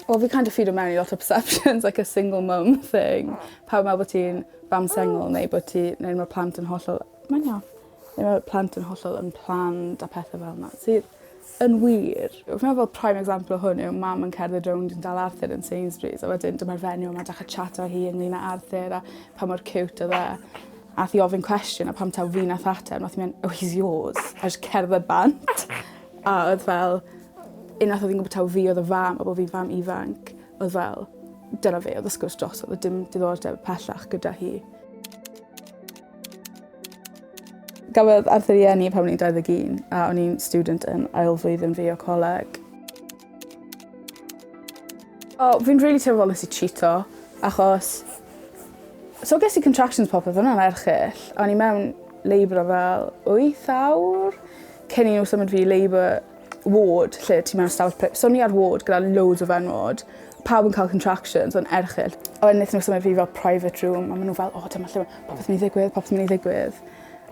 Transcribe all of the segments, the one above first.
Wel fi kind of feedo mewn i lot o perceptions like a single mum thing. Pawb meddwl bod ti'n fam sengl neu bod ti neu ma' plant yn hollol mae'n iawn. Neu ma' plant yn hollol unplanned a pethe fel 'na sy Yn wir. Fi'n meddwl bod prime example o hwn yw mam yn cerdded rownd yn dal Arthur yn Sainsbury's a wedyn dyma'r fenyw 'ma dechre chat â hi ynglŷn â Arthur a pa mor ciwt odd e. A'th i ofyn cwestiwn a pam taw fi nath ateb nath 'i myn' oh he's yours a jys cerdded bant. A odd fel unwaith odd 'i'n gwbo taw fi odd y fam a bo' fi'n fam ifanc odd fel dyna fe odd y sgwrs drosodd o'dd dim diddordeb pellach gyda hi. Gafodd Arthur i enni pan o'n i'n 21 a o'n i'n student yn ail flwyddyn fi o coleg. O, fi'n rili teimlo fel nes i chito, achos... So ges i contractions popeth, hwnna'n erchyll. O'n i mewn labour o fel wyth awr cyn i nhw symud fi i labour ward lle ti mewn stafell pry- so o'n i ar ward gyda loads o fenywod pawb yn ca'l contractions o'n erchyll. A wedyn nethon n'w symud fi fel private room a ma' n'w fel o dyma lle ma' popeth myn' i ddigwydd popeth myn' i ddigwydd.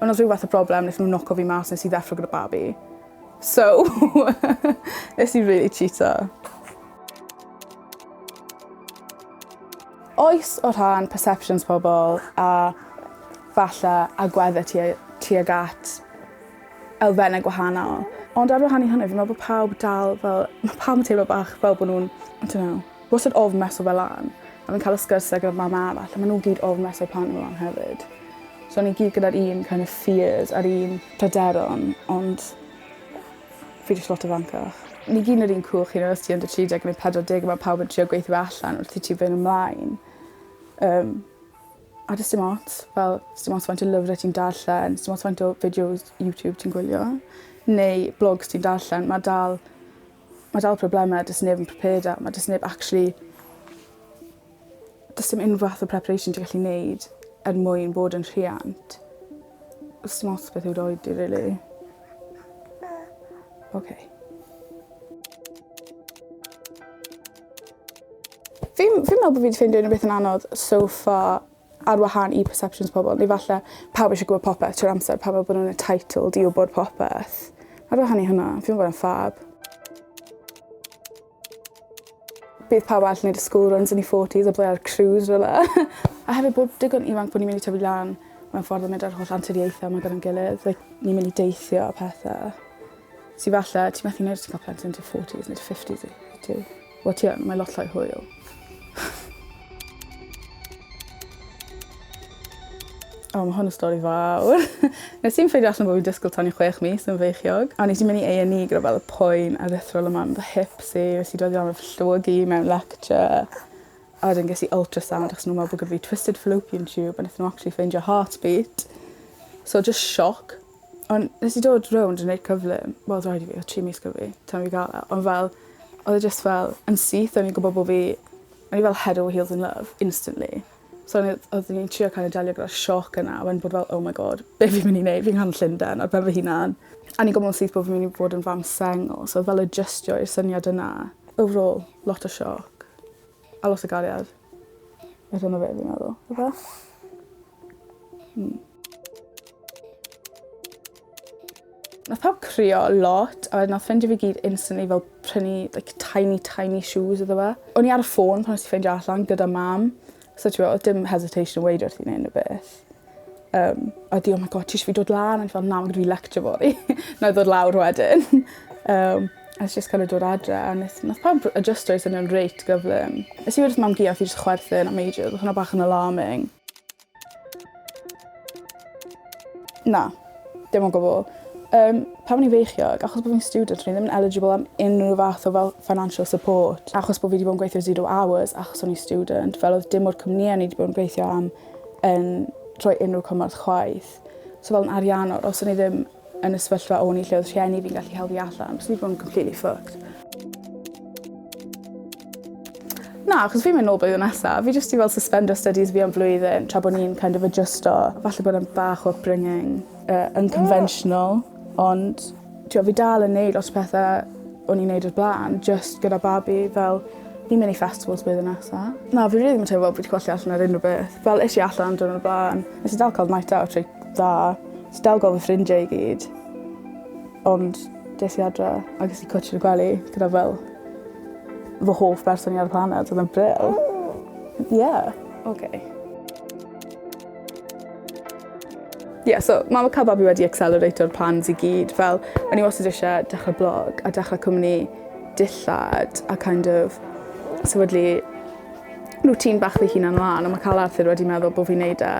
On' o's ryw fath o broblem nethon n'w noco fi mas nes i ddeffro gyda babi. So nes i rili chîto. Oes o rhan perceptions pobol a falle agwedde tuag tuag at elfenne gwahanol. Ond ar wahan i hynny fi'n me'wl bo' pawb dal fel ma' pawb yn teimlo bach fel bo' nw'n I don't know wastad ofn meso fe lan. A fi'n ca'l y sgyrsie gyda mam arall a ma' n'w gyd ofn meso plant n'w lan hefyd. So ni gyd gyda'r un kind of fears a'r un pryderon ond fi jyst lot ifancach. Ni gyd yn yr un cwch you know os ti under tri deg ne' pedwar deg a ma' pawb yn trio gweithio fe allan wrth i ti fyn' ymlaen. Yym. A does dim ots fel sdim ots faint o lyfre ti'n darllen sdim ots faint o fideos YouTube ti'n gwylio neu blogs ti'n darllen ma' dal ma' dal probleme do's neb yn prepared a ma' do's neb actually do's dim unryw fath o preparation ti gallu neud er mwyn bod yn rhiant. Do's dim ots beth yw dy oed di rili. Oce. Fi'n fi'n meddwl bo' fi 'di ffeindio unryw beth yn anodd so far ar wahân i perceptions pobol neu falle pawb isie gwbod popeth trwy'r amser pawb me'wl bo' nw'n entitled i wbod popeth. Ar wahan i hwnna fi'm yn gwel' e'n ffab. Bydd pawb arall yn neud y school runs yn eu forties a byddai ar cruise rywle. A hefyd bod digon ifanc bo' ni myn' i tyfu lan mewn ffordd a mynd â'r holl anturiaethe 'ma gyda'n gilydd like ni myn' i deithio a pethe. Ti falle, ti methu neud os ti'n cael plentyn yn dy forties neu dy fifties wyt ti? Wel ti yn, mae lot llai hwyl. O, mae hwn yn stori fawr. Nes i'n ffeindio allan bod fi'n disgwyl tan i chwech mis yn feichiog. A nes i'n mynd i A&E gyda fel y poen a ddethrol yma am fy hips i. Nes i dod i am y llwygi mewn lecture. A wedyn ges i ultrasound achos nhw'n meddwl bod gyda fi twisted fallopian tube a nes nhw actually ffeindio heartbeat. So just shock. On' nes i dod rownd a neud cyflym wel odd raid i fi odd tri mis 'da fi tan i fi ga'l e on' fel odd e jyst fel yn syth o'n i'n gwbo bo' fi o'n i fel head over heels in love instantly. So o'n i odd odd o'n i'n trio kind of delio gyda'r sioc yna a wedyn bod fel oh my God be' fi myn' i neud fi'n nghanol Llunden ar ben fy hunan. A o'n i'n gwbo yn syth bo' fi myn' i fod yn fam sengl so fel adjystio i'r syniad yna. Overall lot o sioc. A lot o gariad. Mae dyna fe fi'n meddwl. Ife? Hmm. Nath pawb crio lot a wedyn nath ffrindie fi gyd instantly fel prynu like tiny tiny shoes iddo fe. O'n i ar y ffôn pan nes i ffeindio allan gyda mam so t'mo' odd dim hesitation yn weud wrth i ni neud unrywbeth. Yym a 'di oh my God ti isio fi dod lan? O'n i fel na ma' 'da fi lecture fory. 'Nai ddod lawr wedyn. Yym a nes i jyst gorod dod adre a nes nath pawb r- yy jyst roi syniad reit gyflym. Nes i weud wrth mam gu a odd 'i jys chwerthin am ages odd hwnna bach yn alarming. Na. Dim o gwbwl. Yym pan o'n i'n feichiog achos bo' fi'n student o'n i ddim yn eligible am unryw fath o fel financial support achos bo' fi 'di bo' yn gweithio zero hours achos o'n i student fel odd dim o'r cwmnie o'n i 'di bod yn gweithio am yn rhoi unrhyw cymorth chwaith. So fel yn ariannol, os o'n i ddim yn y sefyllfa o'n i lle oedd rhieni fi'n gallu helpu allan, byswn i bod yn completely fucked. Na, achos fi'n mynd nôl blwyddyn nesaf. Fi jyst i fel suspender studies fi am flwyddyn tra bod ni'n kind of adjusto. Falle bod yn bach o upbringing uh, unconventional, ond T'o' fi dal yn neud lot o pethe o'n i'n neud o'r bla'n jyst gyda babi fel fi'n myn' i festivals blwyddyn nesa. Na fi rili ddim yn teimlo fel fi 'di colli allan ar unryw beth. Fel es i allan diwrnod o'r bla'n nes i dal ca'l night out reit dda. Nes i dal gwel' fy ffrindie i gyd. Ond des i adre a ges i cwtsh yn y gwely gyda fel fy hoff berson i ar y planed odd e'n brill. Ie. Oce. Ie, yeah, so mam a cael babi wedi accelerato'r plans i gyd. Fel, o'n i wastad eisiau dechrau blog a dechrau cwmni dillad a kind of sefydlu rŵtîn bach fy hunan lan. A mae cael Arthur wedi meddwl bod fi'n neud e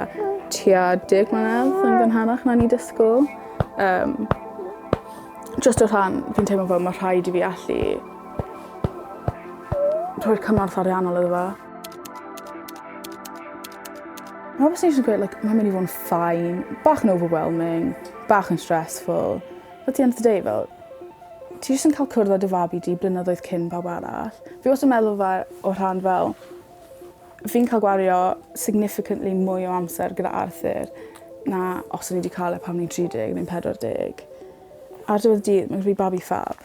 tua deg mlynedd yn gynharach na ni dysgwyl. Um, just o rhan, fi'n teimlo fel mae rhaid i fi allu rhoi'r cymorth ariannol iddo fo. Mae wastad eisiau gweud, like, mae'n mynd i fod yn ffain, bach yn overwhelming, bach yn stressful. But at the end of the day, fel, ti jyst yn cael cwrdd â dy fabi di blynyddoedd cyn pawb arall. Fi wastad yn meddwl fe o rhan fel, fi'n cael gwario significantly mwy o amser gyda Arthur na os o'n i wedi cael e pan o'n i'n 30 neu'n 40. Ar diwedd dydd, mae'n rhy babi ffab.